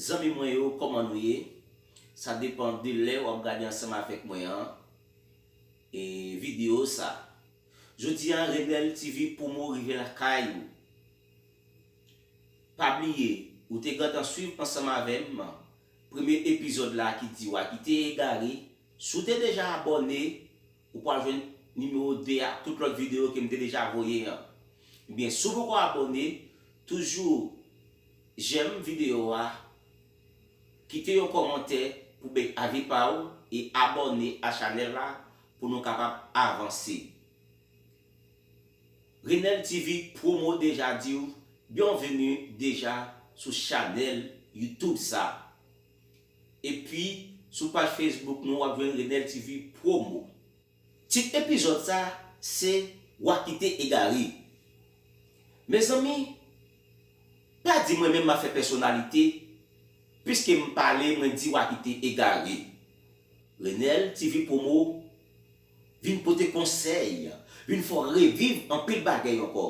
Zanmi mwen yo kòman nou ye? Sa depan de lè wap gade ansanm avèk mwen an e video sa. Jodi a Rebel TV promo rive lakay ou. Pa bliye ou te gentan swiv ansanm avèm. Premye epizòd la ki di wa kite egare, si w te deja abòne ou pwal jwenn nimewo 2 a ak tout lòt videyo ke m te deja voye an. Ebyen si w poko abòne toujou jèm videyo a, kite yon kòmantè pou bay avi pa w e abòne a chanèl la pou nou kapab avanse. Renel TV promo deja diw bionvenu deja sou chanel YouTube sa epi sou paj Facebook nou wap jwenn Renel TV promo. Tit epizòd sa se wa kite egare. Mezanmi pa di mwen menm map fè pèsonalite piske m pale mwen di wa kite egare. Renel TV promo. Vin pote konsèy, vin fè w reviv anpil bagay ankò.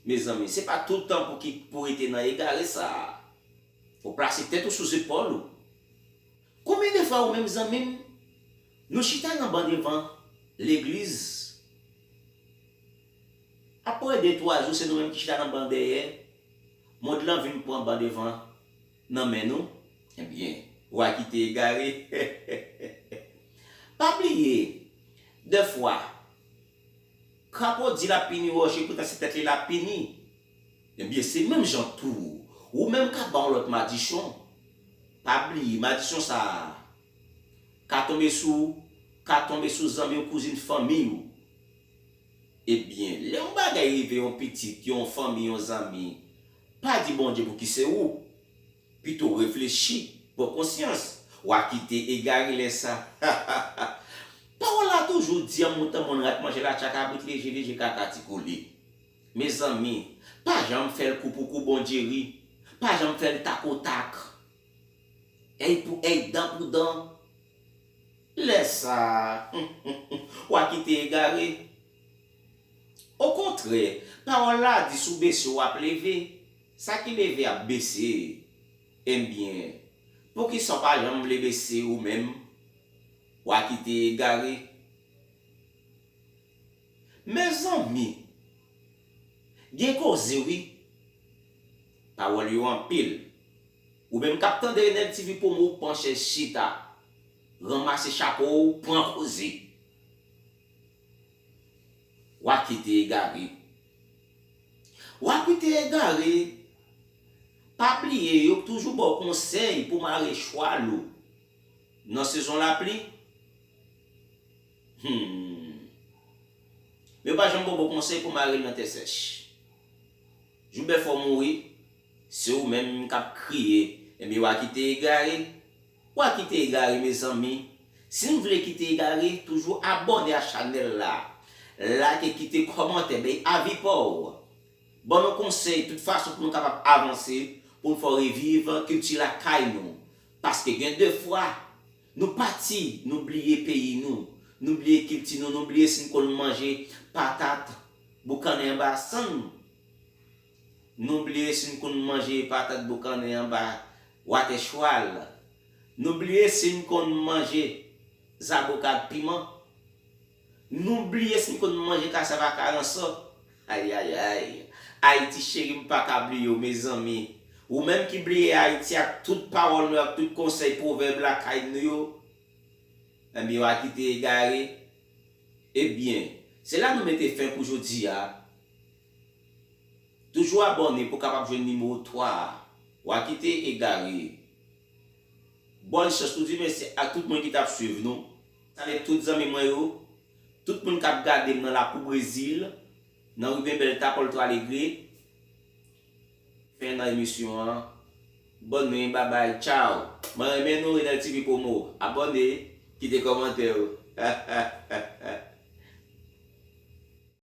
Mezanmi, se pa tout tan pou ki pou rete nan egare sa a. Fò w plase tèt ou sou zepòl ou. Konbyen de fwa ou menm zanmi m, nou chita nan ban devan legliz, aprè de twa jou se nou menm ki chita nan ban dèyè, mond lan vin pran ban devan. nan men nou ebyen wa kite egare pa bliye de fwa krapo di lap pini roje poutan se tèt li lap pini ebyen se menm jan tou ou menm kap ba yon lòt madichon pa bliye madichon sa ka tonbe sou ou ka tonbe sou zanmi ou kouzin fanmiy ou ebyen lè yon bagay rive yon pitit yon fanmi yon zanmi Pa di Bondye pou ki se ou. Pito reflechi, pran konsyans. Wa kite egare lè sa. Hahaha Pawòl la toujou di an mouton moun rat manje latcha kabrit leje leje kaka ti kole. Mezanmi, pa janm fè l kou pou kou Bondye ri. Pa janm fè l tak o tak. Èy pou èy, dan pou dan. Lè sa, humm humm humm, wa kite egare. Okontrè, Pawòl la di si w bese w ap leve. Sa ki leve ap bese. Enbyen, poukisa w pa janm vle bese ou menm? Wa kite egare. Mezanmi! Gen koze wi. Pawòl yo anpil. Ou menm k ap tande Enèg TV Promo, pran chèz chita. Ranmase chapo w, pran koze. Wa ki te egare Wa ki te egare, pa bliye yo toujou ba w konsèy pou mare chwal ou nan sezon lapli? Hum! Men yo pa janm ba w bon konsèy pou mare l nan tè sèch. Jou bèf ou mouri, se ou menm k ap kriye. Ebyen wa ki te egare. Wa kite egare mezanmi si n vle kite egare toujou abòne a chanèl la like kite kòmantè bay avi paw ban nou konsèy tout fason pou nou kapab avanse pou n fè reviv kilti lakay nou paske gen de fwa nou pati nou bliye peyi nou nou bliye kilti nou nou bliye si n konn manje patat boukannen anba san n. Nou bliye si n konn manje patat boukannen anba watè chwal. Nou bliye si n konn manje zaboka ak piman. Nou bliye si n konn manje kasav ak aransò. Ayayay! Ayiti cheri m pa ka bliye w mezanmi. Ou menm ki bliye Ayiti ak tout pawòl nou yo ak tout konsèy pwovèb lakay nou yo. Enben yo a kite egare. Ebyen, se la nou mete fen pou jodi a. Toujou abòne pou kapab jwenn nimewo 3 a. Wa kite egare. Bòn chans nou di mèsi ak tout moun ki tap swiv nou. Salye tout zanmi mwen yo. Tout moun kap gadem nan lakou brezil. Nan riben belta polto alegre. Fen nan emisyon an. Bòn nwit babay tchaw. Mwen renmen nou renel TV promo. Abòne kite kòmantè ou.